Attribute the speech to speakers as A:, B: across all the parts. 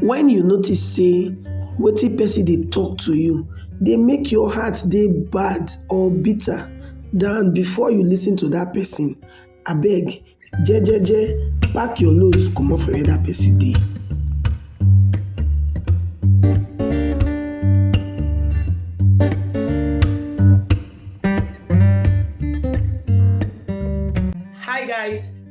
A: Wen you notice sey wetin pesin dey talk to you dey make your heart dey bad or bitter than before you lis ten to dat pesin, abeg jejeje pack your nose comot for where dat pesin dey. Hi guys.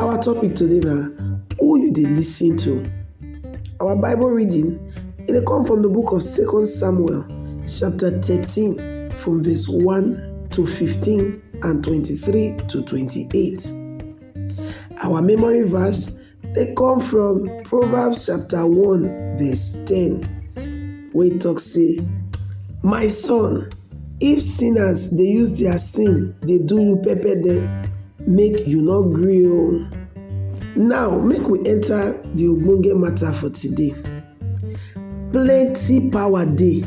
A: Our topic today na who you dey lis ten to. Our Bible reading e dey come from the book of Second Samuel chapter thirteen from verse one to fifteen and twenty-three to twenty-eight. Our memory verse dey come from Proverbs chapter one verse ten wey talk say, My son, If sinners dey use their sin dey do you pepper dem, make you no gree o. Now make we enter the ogbonge matter for today. Plenty power dey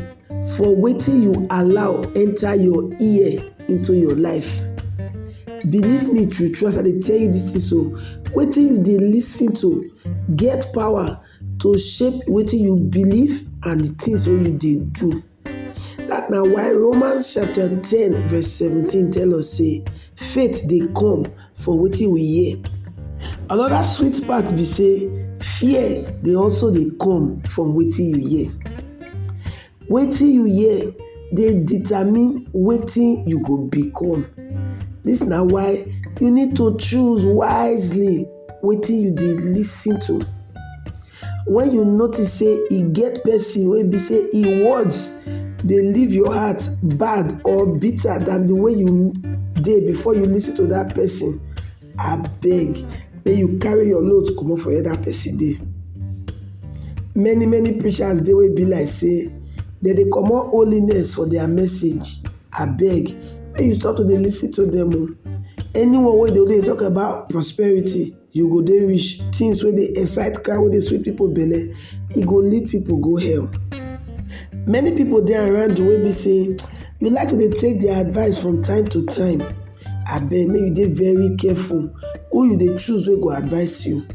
A: for wetin you allow enter your ear into your life. Believe me true true as I dey tell you this thing so, wetin you dey lis ten to get power to shape wetin you believe and the things wey you dey do. That na why Romans chapter ten verse seventeen tell us say faith dey come for wetin we hear. Another sweet part be say fear dey also dey come from wetin you hear. Wetin you hear dey determine wetin you go become. This na why you need to choose wisely wetin you dey listen to. When you notice say e get person wey be say e words dey leave your heart bad or bitter than the way you dey before you listen to that person, abeg make you carry your load comot for where that person dey. Many many preachers dey wey be like say dem dey comot holiness for their message, abeg make you stop to dey listen to them o. Anyone wey dey talk about prosperity. You go dey wish things wey dey excite crowd wey dey sweet people belle, e go lead people go hell. Many people dey around you wey be sey you like to dey take their advice from time to time, abeg make you dey very careful who you dey choose wey go advice you.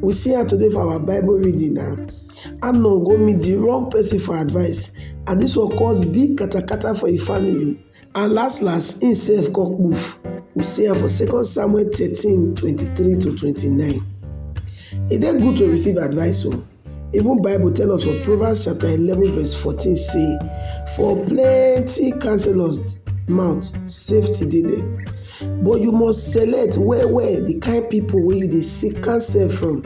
A: We see am today for our bible reading na, Amnon go meet de wrong person for advice and dis one cause big katakata for im family. And las las, im sef kon kpuf. We see am for second Samuel thirteen twenty three to twenty nine. E dey good to receive advice o. Oh. Even Bible tell us for Proverbs chapter eleven verse fourteen say, For plenty counselors mouth safety dey there but you must select well well the kind people wey you dey seek counsel from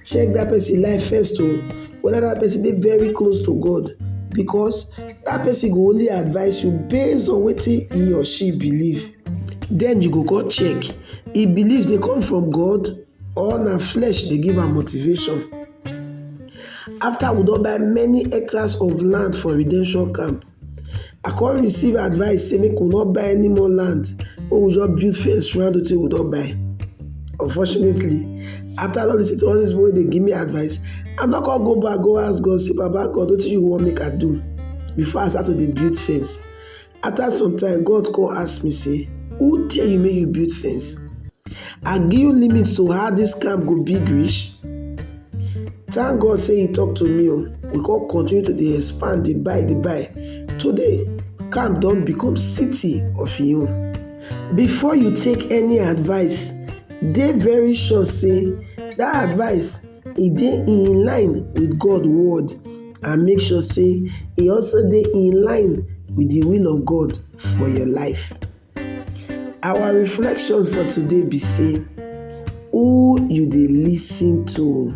A: check that person life first o oh. whether that person dey very close to god because Dat person go only advice you based on wetin he or she believe. Then you go come check he beliefs dey come from God or na flesh dey give am motivation. After we don buy many hectares of land for redemption camp, I come receive advice say make we no buy any more land, make we just build fence round wetin we don buy. Unfortunately, after all this, all this way they give me advice, I not gonna go back, go ask God, say, Baba God, what you want make I do? Before I start to the build fence. After some time, God call ask me, say, Who tell you make you build fence? I give you limits to how this camp go big reach. Thank God say he talk to me. Oh. We can continue to dey expand, dey buy, dey buy. Today, camp don become city of im own. Before you take any advice, dey very sure sey dat advice e dey in line with God word and make sure sey e also dey in line with de will of God for your life. Our reflections for today be sey who you dey lis ten to.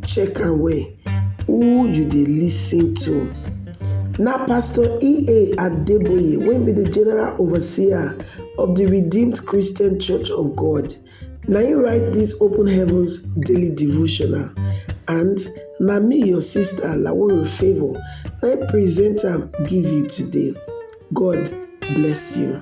A: Check am well, who you dey listen to? Na Pastor E.A. Adeboye wey be the general overseer of the Redeemed Christian Church of God na him write this Open Heavens daily devotional and na me your sister Laworo Favour na him present am give you today. God bless you.